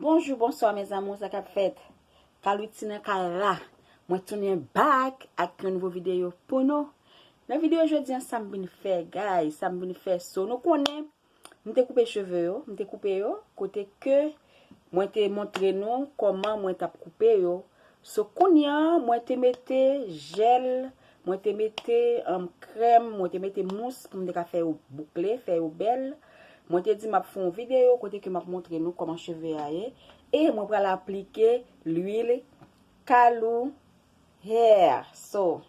Bonjou bonswa mes amour sa kap fèt Carluti nan kay la mwen tounen back ak yon nouvo video pou nou nan video jodi an sam vin fè guys sam vin fè so nou konnen m te koupe cheve yo m te koupe yo kote ke mwen te montre nou koman mwen tap koupe yo so kounye an mwen te mete jel Mwen te mete krèm, mwen te mete mous pou m te ka fè yo boukle, fè yo bèl. Mwen te di m ap fè yon videyo kote ke m ap montre nou kòman cheve a ye. E mwen pral aplike lwil Kalou Hair. So,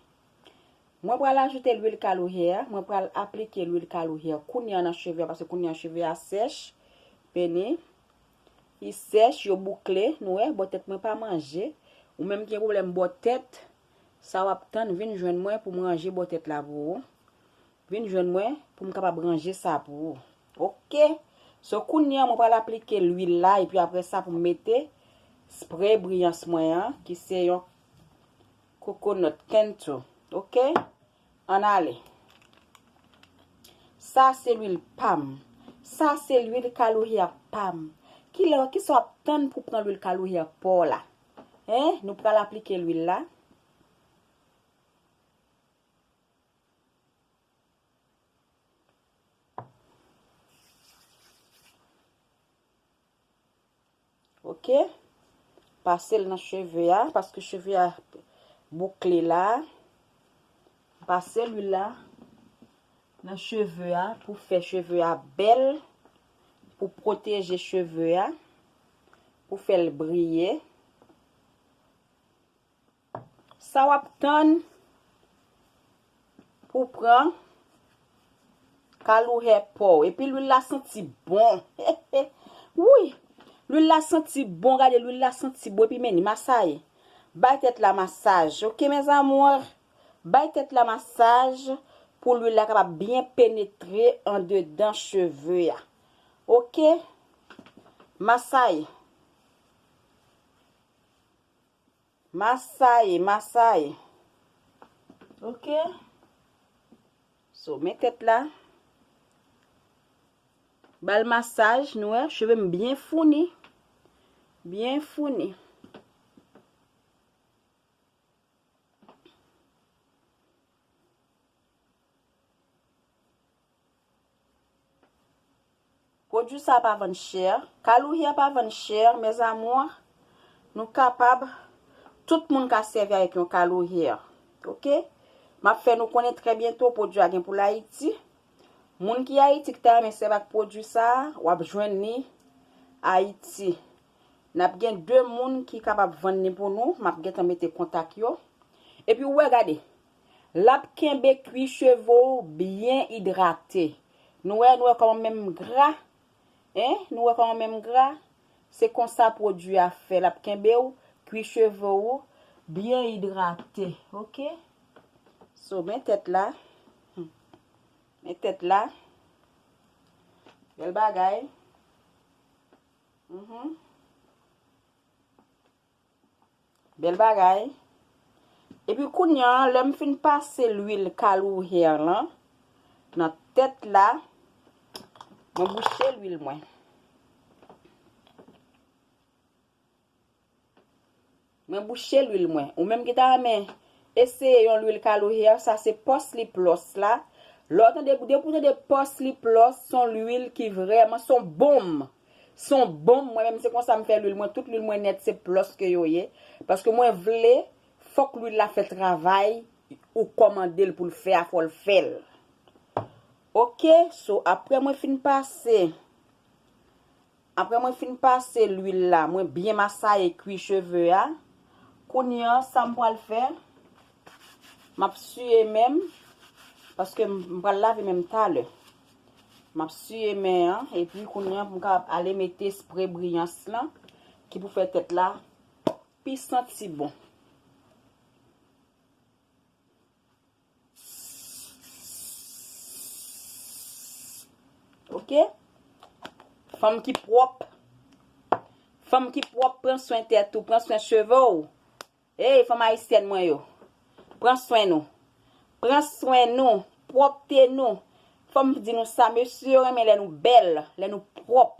mwen pral ajoute lwil Kalou Hair. Mwen pral aplike lwil Kalou Hair kounye an nan cheve a paske kounye an cheve a sèch. Beni. Li sèch, yo boukle. Nou wè, bò tèt mwen pa manje. Ou menm ki gen pwoblèm bò tèt, Sa w ap tann vin jwenn mwen pou m ranje bò tèt la pou ou. Vin jwenn mwen pou m kapab ranje sa pou ou. Ok! So kounye an mwen pral aplike lwil la epi apre sa pou m mete spray briyans mwen an ki se yon coconut kentu. Ok! Ann ale! Sa se lwil pa m. Sa se lwil kaloryè pa m. Kilè, kisa w ap tann pou w pran lwil kaloryè pa w la? Hein nou pral aplike lwil la. Ok pasel nan cheve a paske cheve a boukle la pase lwil la nan cheve a pou fè cheve a bèl. Pou pwoteje cheve a. Pou fè l briye. Sa w ap tann pou w pran kalou hè po w. Epi lwil la santi bon. Wouyy! Lwil la santi bon. Gade lwil la santi bon. Epi men ni masaye. Bay tèt la masaj. Ok mes amours. Bay tèt la masaj pou lwil la kapab byen penetre andedan cheve a. Ok. Masay. Masay, masay. Ok. So, men tèt la. Ba l masaj, nou wè, cheve m byen founi. Byen founi. Produit sa pa vann chè. Calouhia pa vann chè mes amours. Nou kapab tout moun ka sèvi avèk yon calouhia. Ok. Map fè nou konnen trè byento produit a gen pou l'Haiti. Moun ki Haiti ki ta renmen sèvi ak produit sa, wap jwenn li Haiti. Nap gen 2 moun ki kapab vann li pou nou, map gentan mete kontak yo. Epi ou wè gade, lap kenbe kwi cheve w byen idrate. Nou wè, nou wè kòman menm gra, hein, nou wè kòman menm gra, se konsa pwodwi a fè, lap kenbe w kwi cheve ou byen idrate, ok. So men tèt la, hum, men tèt la, bèl bagay. Bel bagay. Epi kounya lè m fin pase lwil kalou hair lan nan tèt la mwen bouche lwil mwen. Mwen bouche lwil mwen. Ou menm ki ta renmen eseye yon lwil Kalo Hair sa se Pòs Lip Lòs la. Lè w tande, depi w tande Pòs Lip Lòs, son lwil ki vrèman, son bonm. Son bonm, mwen menm se konsa m fè lwil mwen, tout lwil mwen nèt se Plos ke yo ye. Paske mwen vle, fòk lwil la fè travay ou kòmande l pou l fè a, fò l fè l. Ok, so aprè mwen fin pase. Aprè mwen fin pase lwil la mwen byen masaye kwi cheve a. Kounye an sam pral fè map siye menm paske m pral lave menm talè. Map siye men an epi kounye an pou m kapab ale mete spre briyans lan ki pou fè tèt la pi santi bon. Ok? Fanm ki pwop. Fanm ki pwop pran swen tet ou, pran swen cheve ou. Hey fanm ayisyèn mwen yo. Pran swen nou. Pran swen nou. Pwopte nou. Fom di nou sa mesye yo renmen le nou bel, le nou pwop.